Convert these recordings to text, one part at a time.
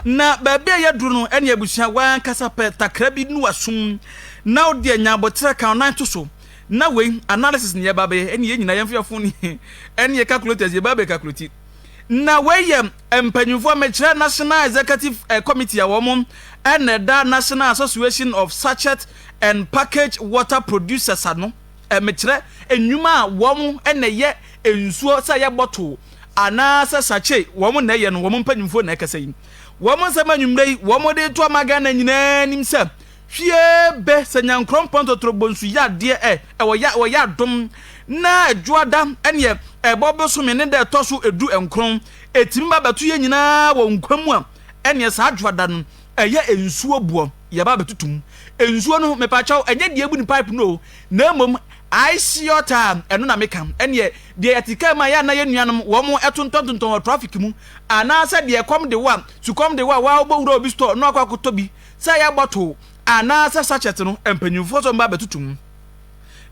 Na baabi a yɛaduru no ne abusua a w'ankasa pɛ takra bi ne w'asom na wode anya aboterɛ ka wo nan to so. Na wei, analysis na yɛreba abɛyɛ, ɛne yɛn nyinaa yɛn mfeafo ne yɛn calculators yɛreba abɛcalculate. Na wei yɛ Mpanyimfoɔ mmɛkyerɛ National Executive Committee a wɔn na ɛda National Association of Sachet and Packaged Water Producers ano mmɛkyerɛ nnwuma a wɔn na ɛyɛ nsuo sɛ ɛyɛ bottle anaa sɛ sachet wɔn na ɛyɛ no wɔn mpanyimfoɔ na ɛkasa yi wɔn nsɛm anwummerɛ yi wɔn de reto ama Ghana nyinaa anim sɛ Hwie bɛ sɛ Nyankorɔ mpɔn totorobɔ nsu yɛ adeɛ ɛ ɛwɔ yɛ wɔ yɛ adom na Dwoada ɛneɛ ɛbɔ bosome ne da ɛtɔ so ɛdu nkron ɛtumi ba bɛto yɛ nyinaa wɔ nkwa mu a ɛneɛ saa Dwoada no ɛyɛ nsuo boɔ yɛ ba bɛtoto mu nsuo no mepakyɛw ɛnyɛ deɛ ɛbu ne pipe no o na mmom ice water a ɛno na meka ɛneɛ deɛ yɛte kaa mu a yɛ na yɛ nuanom wɔn ɛtontɔntontɔn wɔ traffic mu anaasɛ deɛ ɛkɔm de wo a sukɔm de wo a waa wobɔ wura obi store na wakɔ akɔtɔ bi sɛ ɛyɛ bɔtol anaasɛ sachɛt no, mpanyimfo nso mma abɛtoto mu.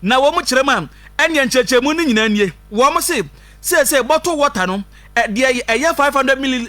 Na wɔn kyerɛ mu a, ɛnneɛ nkyerɛkyerɛmu no nyinaa nie, wɔse, Seesei bɔtol wɔta no, deɛ ɛyɛ 500 milli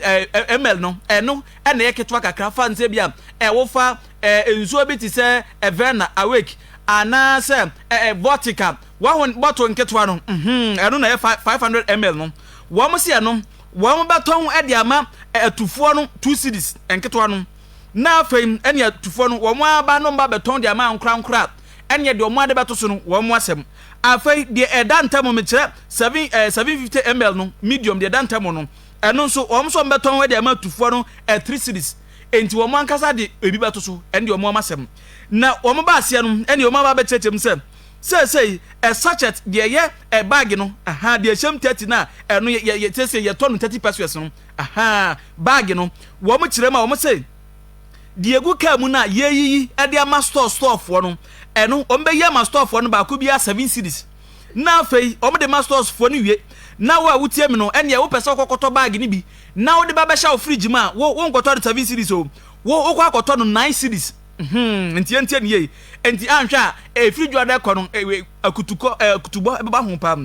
ml no, ɛno na ɛyɛ ketewa kakra fa nsɛ bi a ɛwofa nsuo bi te sɛ Averna, Awake, anaasɛ Vortica, wahu bɔtol nketewa no, ɛno na ɛyɛ 500 ml no. Wɔse ɛno, wɔbɛtɔn de ama atufoɔ no two cedis, nketewa no. na afei ɛne atufoɔ no wɔn aba no mba bɛtɔn de ama ankorankora a, ɛneɛ deɛ wɔn ade bɛto so no wɔn asɛm. Afei deɛ ɛda ntam mekyerɛ seven ɛɛ eh, seven fifty ml no medium deɛ ɛda ntam no ɛno nso wɔn nso bɛtɔn de ama atufoɔ no ɛ three series enti wɔn ankasa de ebi bɛto so ɛne deɛ wɔn wɔn asɛm na wɔn ba aseɛ no ɛne wɔn aba bɛkyerɛkyerɛ mu sɛ seesei ɛ sachet deɛ ɛyɛ ɛ baage no aha deɛ ɛhyɛm thirty no a ɛno yɛ yɛ seesei yɛtɔ no thirty pesos no Ahaa, bag no, wɔn kyerɛ mu a, wɔn se, deɛ egu car mu no a yɛreyiyi de ama store store foɔ no, ɛno wɔn bɛyi ama store foɔ no baako biara seven cedis. Na afei wɔn de ma stores foɔ no wie. Na wo a wotie me no, ɛnneɛ wopɛ sɛ wokɔkɔtɔ bag no bi na wode ba bɛhyɛ wo fridge mu a, wo wonkɔtɔ no seven cedis o, wo wokɔ akɔtɔ no nine cedis. Hmm, nti yɛntie no yie. Nti anhwɛ a, ɛfiri dwoada kɔ no, akutukɔ, akutubɔ ɛbɛba ho paa.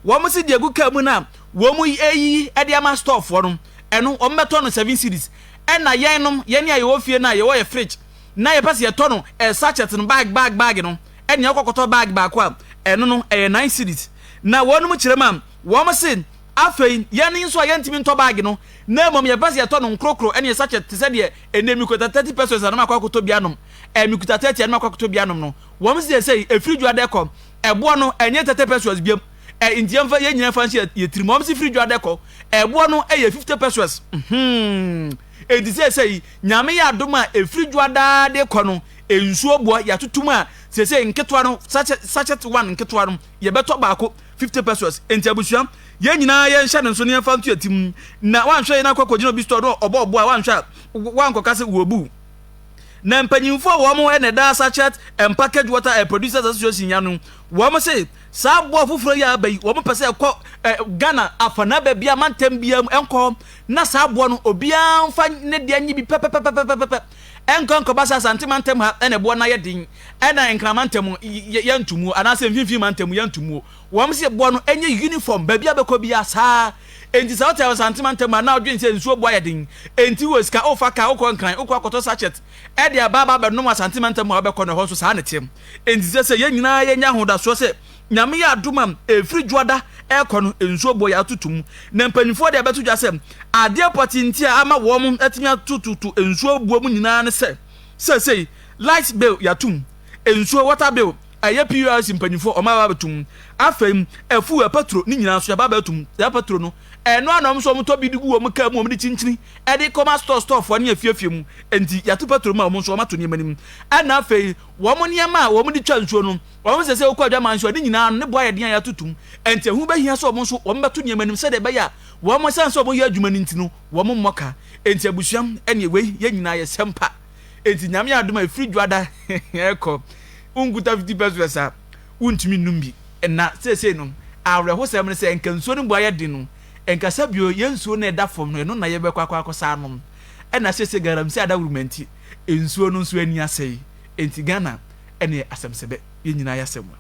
Wɔn se deɛ egu car mu no a, wɔn reyiyi de ama storefoɔ no, ɛno wɔbɛtɔ no seven cedis. Ɛna yɛnom, yɛn a yɛwɔ fie no a yɛwɔ yɛ fridge na yɛpɛ sɛ yɛtɔ no eh, sachet no bag bag bag no, ɛnea wokɔkɔtɔ bag baako a, ɛno no ɛyɛ nine cedis. Na wɔnom kyerɛ mu a, wɔn se, Afei, yɛn nso a yɛntumi ntɔ bag no, na mmom yɛpɛ sɛ yɛtɔ no nkorokoro, ɛnea sachet te sɛ deɛ ɛnɛ mekuta thirty pesos anom akɔ akɔtɔ bi anom, eh, mekuta thirty anom akɔ akɔtɔ bi anom no, wɔn se seesei ɛfiri dwoada kɔ, ɛboɔ no ɛnyɛ thirty pesos biam. ɛ nti yɛnfa yɛn nyinaa fa nhyɛ yɛ tiri mu wɔn si firi dwa dɛ kɔ ɛboɔ no ɛyɛ fifty pesos hmm eti sɛsɛ yi nyame yɛ adom a efiri dwa daa de kɔ no nsuo boɔ yɛatoto mu a sɛsɛ nketewa no sachet sachet one nketewa no yɛbɛtɔ baako fifty pesos enti abusua yɛn nyinaa yɛn hyɛ ne nso ne yɛn fa nto yɛ tiri mu na wanhwɛ yɛn akɔ akɔgyina obi store no ɔbɔ ɔboɔ a wanhwɛ a wankɔka sɛ wɔ bu na mpanyinfoɔ wɔn ɛna ɛda sachet and package water and producers association ya no wɔn se Saa aboa foforɔ yi a aba yi, wɔpɛ sɛ ɛkɔ eh, Ghana afanaa baabi a mantam biara mu ɛnkɔ hɔ na saa aboa no obiara mfa ne deɛ nye bi pɛpɛpɛpɛpɛpɛ ɛnkɔ nkɔba sɛ Asante mantam ha ɛna ɛboa no ayɛ den ɛna Nkran mantam yɛntumuo anaasɛ mfimfini mantam yɛntumuo wɔn sɛ boa no ɛnyɛ uniform baabi a bɛkɔ biara saa enti sɛ wote Asante mantam ha na wodwen sɛ nsuo boa yɛ den enti wɔ sika wofa kaa wokɔ Nkran wokɔ akɔtɔ sachet Ɛde aba aba bɛnom Asante mantam a wobɛkɔ no, ɛhɔ nso saa na ɛteɛ. Enti ɛsɛ sɛ yɛn nyinaa yɛnya ahodasoɔ sɛ Nyame yɛ adom a ɛfiri Dwoada ɛrekɔ no, nsuo boɔ yɛ atoto mu. Na mpanimfoɔ deɛ bɛto dwa sɛ adeɛ pɔtee nti a ama wɔn atumi atototo nsuo boɔ mu nyinaa ne sɛ seesei light bill yɛato mu, nsuo, water bill, ɛyɛ PURC mpanimfoɔ wɔn aba abɛto mu. Afei afuo, ɛpɛturo ne nyinaa nso yɛaba abɛto mu. Saa pɛturo no. Ɛno a na wɔn nso wɔtɔ bi de gu wɔn kaa mu wɔn de kyinkyini de kɔma store store foɔ ne afiafie mu nti yɛato petrol mu a wɔn nso wɔato nneɛma no mu ɛna afei wɔn nneɛma a wɔn de twa nsuo no wɔn sɛ sɛ wokɔ adwaman nso a ne nyinaa no ne bo ayɛ den a yɛato tum nti ɛho bɛhia sɛ wɔn nso wɔn bɛto nneɛma no mu sɛdeɛ ɛbɛyɛ a wɔn ɛsan sɛ wɔn yɛ adwuma no nti no wɔn mmɔ ka nti abusua ɛne wei yɛn nyinaa yɛ sɛmpa nti nyame adom a ɛfiri dwada ɛkɔ wonkuta 50 pesos a wontumi nnom bi. Na seesei no, awerɛhosɛm ne sɛ anka nsuo no mu ayɛ den no, ɛnkasa bio, yɛn nsuo no a ɛda fam no, ɛno na yɛbɛkɔ akɔ akɔsa anom. Ɛna seesei galamsey adawuruma nti, nsuo no nso ani asɛe. Enti Ghana ɛneɛ asɛm sɛ bɛ, yɛn nyinaa ayɛ asɛmua.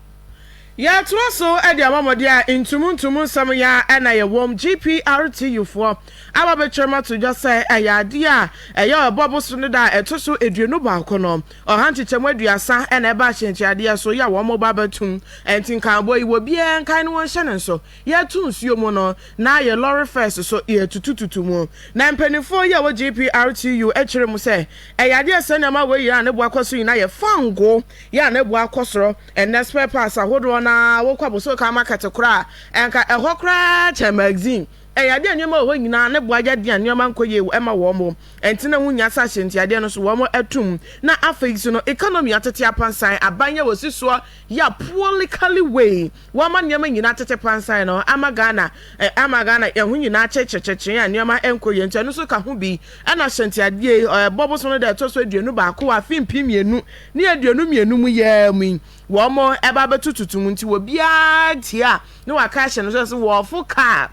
Yɛtoa so de ama mo deɛ a ntumu ntumu nsɛm yi ara na yɛwom, GPRTUfoɔ aba bɛtwam ato dwa sɛ ɛyɛ adeɛ a ɛyɛ Ɔbɔbo Soneda a ɛto so aduonu baako no, Ɔha nkyekyɛm aduasa na ɛbaa Ahyɛnkyeadeɛ so, yɛ a wɔn ba bɛtom. Ɛnti nkaabɔ yi, wɔ biaa nkae no wɔnhyɛ no nso. Yɛɛto nsuo mu no, na ayɛ lɔre fɛs so, yɛɛtutututu mu. Na mpaninfoɔ yi a wɔ GPRTU kyerɛ mu sɛ, ɛyɛ adeɛ a sɛnea ma wei yɛ a ne bo akɔ so nyina yɛ fango, yɛ a ne bo akɔ soro. Ɛnnɛ spare parts ahodoɔ no ara wokɔ Abossey-Okai market koraa a, ɛnka ɛhɔ koraa kyɛn magazine. Ɛyɛ adeɛ a nneɛma wɔ hɔ nyina ne bo ayɛ den a nneɛma nkɔ yie wɔ ɛma wɔn. Ɛnte na wonnya sɛ ahyɛntiadeɛ no so wɔn ato mu na afei nso no economy atete apansan, aban yi a wɔsi soɔ yɛ a poorly cali wei, wɔama nneɛma nyinaa atete pansan no ama Ghana eh, ama Ghana yɛn ho nyinaa kyerekyerekyerekye a nneɛma ɛnkɔ yie nti ɛno nso ka ho bi ɛna ahyɛntiadeɛ yi ɛbɔ bosom no da ɛtɔ so aduonu baako wɔ afe mpem mmienu ne aduonu mmienu mu yɛa mu yi wɔn ɛba abɛto tutu mu nti wɔbiara tia na wɔaka ahyɛ no sɛ sɛ wɔfo kaa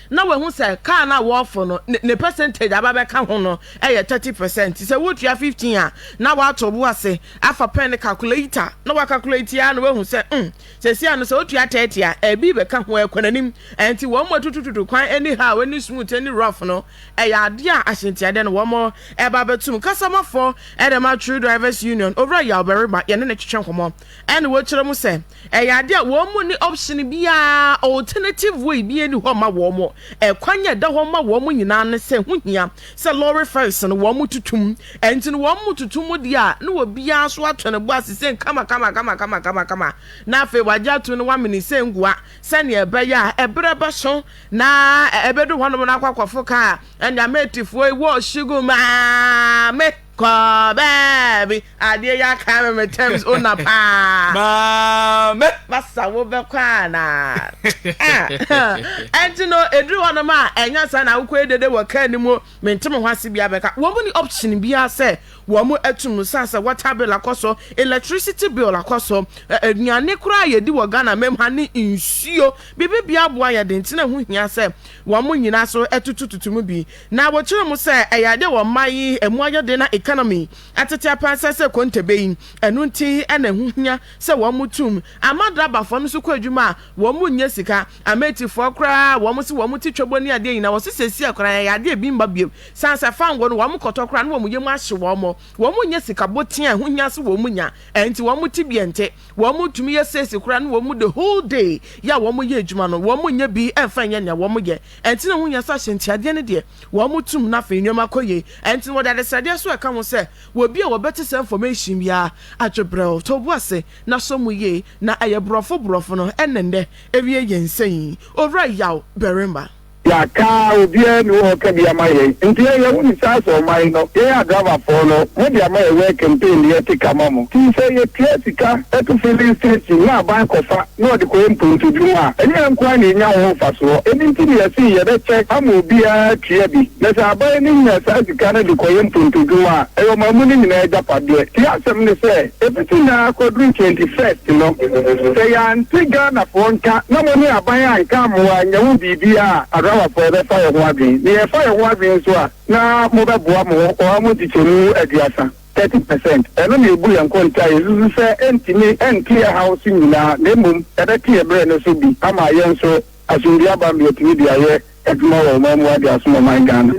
na wahu sɛ kaa no a wɔrefo no ne percentage aba bɛka ho no yɛ thirty percent nti sɛ wotua fifteen a na wato bo ase afa pɛn ne calculator na wakalkulate ara na wahu sɛ mm sɛsi ano sɛ otua thirty a ɛbi bɛka ho ɛkɔ n'anim nti wɔn mu atutututu kwan ɛni ha a ɛni smooth ɛni rough no ɛyɛ adeɛ a ahyɛntiadeɛ no wɔn ɛba bɛtum kasamafo ɛdɛm atwere drivers union owura yɛ ɔbɛrima yɛne ne twetwe nkɔmɔ ɛne wɔkyerɛ mu sɛ ɛyɛ ade a wɔn mu nni option biara, alternative way biara nni hɔ mma wɔn. Ɛkwan a ɛda hɔ ma wɔn nyinaa ne sɛ ɛho hia sɛ lɔre fɛs no wɔtoto mu. Ɛnti no wɔtoto mu deɛ a na obiara nso atɔ ne bo ase sɛ kamakama-kamakama-kamakama na afei wɔagye atom na wɔamene sɛ ngua sɛdeɛ ɛbɛyɛ a ɛberɛ bɛso na ɛbɛdu hɔnom na akɔ akɔfo kaa Nyame atifoɔ yi wɔ Shiguma. Me. Kɔ baabi adeɛ yi aka me me terms owner paa. Maame. Masa wo bɛ kɔ anaa. Ah, ɛnti no eduru hɔ nom a ɛnya saa na awokɔ yɛ dede wɔ kaa ni mu me nte me ho ase bia bɛka wɔn ni option bia sɛ wɔn atu mu saa sɛ water bill akɔ so electricity bill akɔ so aduane koraa yɛ di wɔ Ghana mem ha ne nsuo bibi bia aboa yɛ de nti na ɛho hia sɛ wɔn nyina so ɛtutututu mu bi. Na wɔkyerɛ mu sɛ ɛyɛ adeɛ wɔ mmaa yi ɛmu ayɛ den na economy atetea paa sɛ sɛ kontebe yi ɛno nti na ɛho hia sɛ wɔn mo tum ama drabafoɔ no nso kɔ adwuma a wɔn mo nyɛ sika amatifoɔ koraa a wɔn mo se wɔn mo te twɛbɔ ne adeɛ nyinaa wɔse sesie koraa ɛyɛ adeɛ ebi mma biom sane sɛ fango no wɔn mo kɔtɔ koraa na wɔn yɛ mu ahye wɔn mo wɔn mo nyɛ sika boten a ɛho hia se wɔn mo nya ɛnti wɔn mo tebea nte wɔn mo tumi yɛ sesie koraa na wɔn mo the whole day yɛ a wɔn mo yɛ adwuma no wɔn mo nyɛ bi ɛmfa nyɛ nea wɔn mo yɛ Ɛnti na wonya sɛ ahyɛntiadeɛ no deɛ wɔn tum na afei nneɛma kɔ yie. Ɛnti na wɔde adesrɛdeɛ nso ɛka ho sɛ wɔ bi a wɔbɛte saa information yi ara adwo brɛw, tɔ bo ase na sɔ mu yie na ɛyɛ borɔfo borɔfo no ɛnna nnɛ ɛwie yɛn sɛ yi. Owura Yaw barima. Yɛaka obiara nni hɔ a ɔka bi ama yɛn nti yɛn yɛwo ne saa sɛ ɔman no yɛn a driver foɔ no mode ama yɛn wɛ campaign no yɛte ka ma mo ti sɛ yɛtua sika to filling station na aban kɔfa na ɔde kɔyɛ mpontodwuma a, ɛnyɛ yɛn nko ara na yenya ho mfasoɔ. Ɛno nti na yɛse yɛbɛkyɛ ama obiara atua bi. Na sɛ aban no nya saa sika no de kɔyɛ mpontodwuma a, ɛyɛ ɔman mu no nyinaa agyapadeɛ. Tie asɛm no sɛ, ɛfiti nnɛ ara kɔduru 21st no, sɛ yɛante Ghanafoɔ nka na mo ne aban anka ammoa annya ho biribiara a, Arawafoɔ yɛbɛfa yɛn ho adwene. Na yɛfa yɛn ho adwene nso a, na mobɛboa mo ho ɔha mu nkyekyɛmu aduasa. 30 percent. Ɛno na ebu yɛn kɔn taa. Yesusu sɛ entumi nte yɛn haw so nyinaa, na mmom ɛbɛte yɛn bere no so bi ama yɛn nso asomdwoe aba ma yɛatumi de ayɛ adwuma wɔ ɔman mu de asom ɔman Ghana.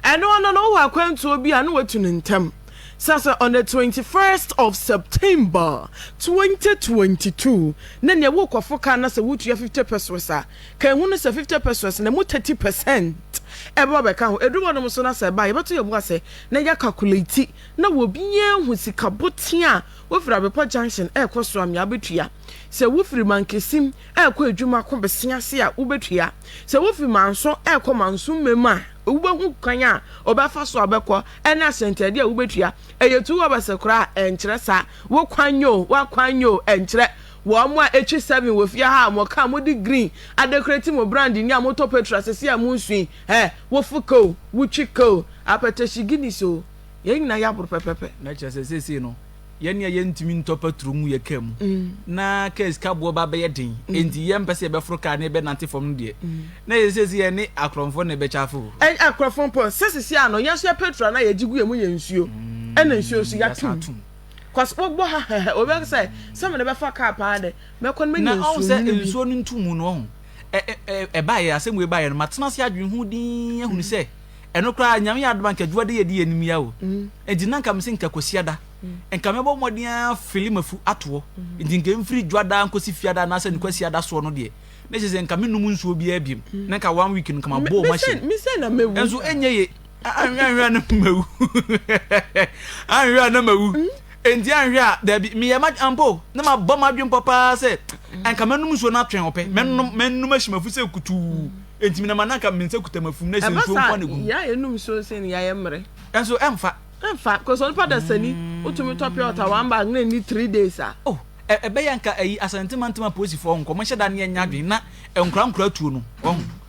Ɛno ano no, wowɔ akwantuo bi a na watu no ntɛm sɛ sɛ on the 21st of September 2022 na nea worekɔfo car no sɛ wotua 50 pesewas a, Ka ehu no sɛ fifty pesewas na emu thirty pɛsɛnt ɛbɛba abɛka ho. Eduru hɔnom nso na sɛ ɛba a, yɛbɛto yɛn bo ase na yɛakakulati na obiara ahu sika botee a wofiri Abepɔ Junction ɛrekɔ Soamia bɛtua, sɛ wofiri Mankesim ɛrekɔ Adwuma ko Bese ase a wobɛtua, sɛ wofi Manso ɛrekɔ Manso Mmam a wobɛhu kwan a wobɛfa so abɛkɔ ɛne ahyɛntaadeɛ a wobɛtua. Ɛyɛ two wabɛse koraa a, ɛnkyerɛ saa. Wo kwan nyɛ o, w'akwan nyɛ o, ɛnkyerɛ. Wɔ mo a etwi seven wɔ fie ha a mo car mo de green adekorati mo brand ni a mo tɔ petrol a sɛsɛɛ a mo nsu yi eh wo fo ka o wo twi ka o apɛtɛ hye Guinness o yɛn nyinaa yɛ aboro pɛpɛpɛ. Na kyerɛ sɛ sɛsɛɛ no yɛn nea yɛn ntumi ntɔ petrol ngu yɛ car mu na car sika boɔ ba bɛyɛ den enti yɛn mpɛ sɛ yɛbɛ foro car na yɛbɛ nante fam no deɛ na yɛ sɛsɛɛ yɛn ne akorɔmfoɔ na yɛbɛ kyafe o. Ɛnyɛ akorɔmfoɔ mpo sɛ sɛsɛɛ a no yɛn nso yɛ petrol a na yɛgye gu yɛn mu yɛ nsuo ɛna nsuo nso yɛato mu. Cos wo bɔ ha hɛhɛ obi bɛ sɛ sɛ mene bɛfa car paa de mɛkɔ no mɛ nyɛ nsuo no bi. nsuo no ntu mu no ɔho ɛbaeɛ asɛm wei baeɛ no matena ase adwene ho din ahunu mm. sɛ ɛno koraa nyame yɛ adoma nka adwuade yɛde yɛ nimia o mm. nti na nka me se nka kwasiada mm. nka mɛbɔ mmɔden afili mafu atoɔ nti nka mfiri dwadaa nkɔsi fiada anaasɛ ne kwasiada soɔ no deɛ na kyerɛ sɛ nka menom nsuo biara biam na nka one week no nka mabɔɔ machine ɛnso ɛnyɛ ye Anhwɛ anhwɛ a na mawu. Anhwɛ a na mawu. Enti anhwɛ a dabi meyɛ ma ampo na mabɔ m'adwene pɔ paa sɛ anka mɛnom nsuo no atwɛn ɔpɛ. Mɛnom mɛnom ahyɛ mafu sɛ kutuu. Enti menam a na anka me nsa kuta mafu na sɛ nsuo nko na gu. Ɛba saa yɛayɛ nom nsuo nsɛn no yɛayɛ mmerɛ. Ɛnso ɛmfa. Ɛmfa kɔsɛ onipa dasani wotumi tɔ pure water one bag na ɛni three days a. Oh ɛbɛyɛ anka ayi Asante mantam apolisifoɔ nkɔmhyɛ da ne yɛnyɛ adwene na nkora nkora tuo no.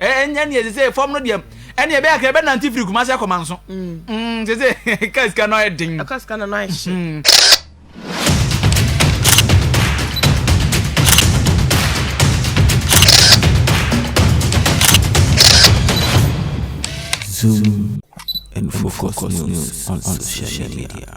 ɛnyɛ ne ɛsɛ sɛ fam no deɛ ɛne ɛbɛyɛ kra ɛbɛnante firi kuma sɛ kɔma nso sɛ sɛ ka sika no ayɛ den ɛka sika no ayɛ hye mm. Zoom and focus, focus news on, on social media.